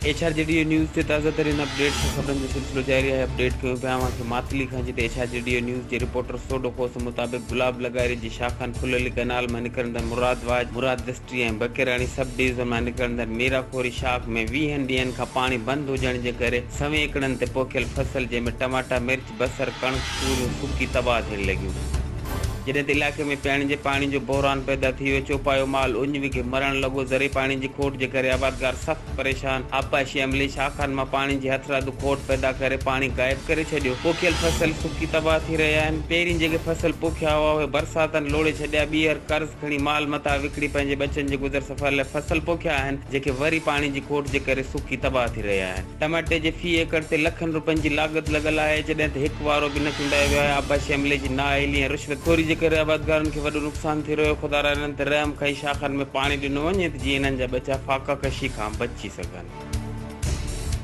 H R جي D اي news تي تازه ترين اپ ڊيٽس سان خبرن جو سلسلو جاري آهي اپ ڊيٽ ڪيو پيو اوهان کي ماتلي کان جتي ايڇ آر جي ڊي اي نيوز جي رپورٽر سوڍو کوسو مطابق گلاب لغاري جي شاخن ڦللي ڪئنال مان نڪرندڙ مراد واچ مراد دسٽري ۽ بکيراڻي سب ڊويزن مان نڪرندڙ ميرا کوري شاخ ۾ ويهن ڏينهن کان پاڻي بند هجڻ جي ڪري سوين ايڪڙن تي پوکيل فصل جنهن ۾ ٽماٽا مرچ بصر، ڪڻڪ، توريون سڪي تباهه ٿيڻ لڳيون. جڏهن ته علائقي ۾ پيئڻ جي پاڻي جو بحران پيدا ٿي ويو. چوپايو مال اڃ وگهي مرڻ لڳو. زرعي پاڻي جي کوٽ جي ڪري آبادگار سخت پريشان. آبپاشي عملي شاخن مان پاڻي جي هٿرادو کوٽ پيدا ڪري پاڻي غائب ڪري ڇڏيو. پوکيل فصل سڪي تباهه ٿي رهيا آهن. پهرين جيڪي فصل پوکيا هئا اهي برساتن لوڙهي ڇڏيا. ٻيهر قرض کڻي مال متاع وڪڻي پنهنجي ٻچن جي گذر سفر لاء فصل پوکيا آهن. جيڪي وري پاڻي جي کوٽ جي ڪري سڪي تباهه ٿي رهيا آهن. ٽماٽي جي في ايڪڙ تي لکن روپين جي لاڳت لڳل آهي، جڏهن ته هڪ وارو به نه چونڊايو ويو آهي، آبپاشي عملي جي نااهلي ۽ رشوت خوري جي ڪري آبادگارن کي وڏو نقصان ٿي رهيو، خدارا انهن تي رحم ڪئي شاخن ۾ پاڻي ڏنو وڃي ته جيئن انهن جا ٻچا فاقه ڪشي کان بچي سگهن.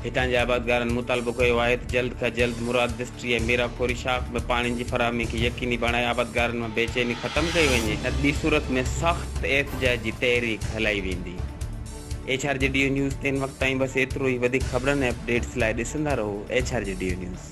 هتان جي آبادگارن مطالبو ڪيو آهي ته جلد کان جلد مراد دسٽري ۽ ميرا خوري شاخ ۾ پاڻين جي فراهمي کي يقيني بڻائي آبادگارن مان بيچيني ختم ڪئي وڃي، نه ته ٻي صورت ۾ سخت احتجاج جي تحريڪ هلائي ويندي. H R G D news تي هن وقت تائين بس ايترو ئي وڌيڪ خبرن ۽ اپڊيٽس لاء ڏسندا رهو H R G D news.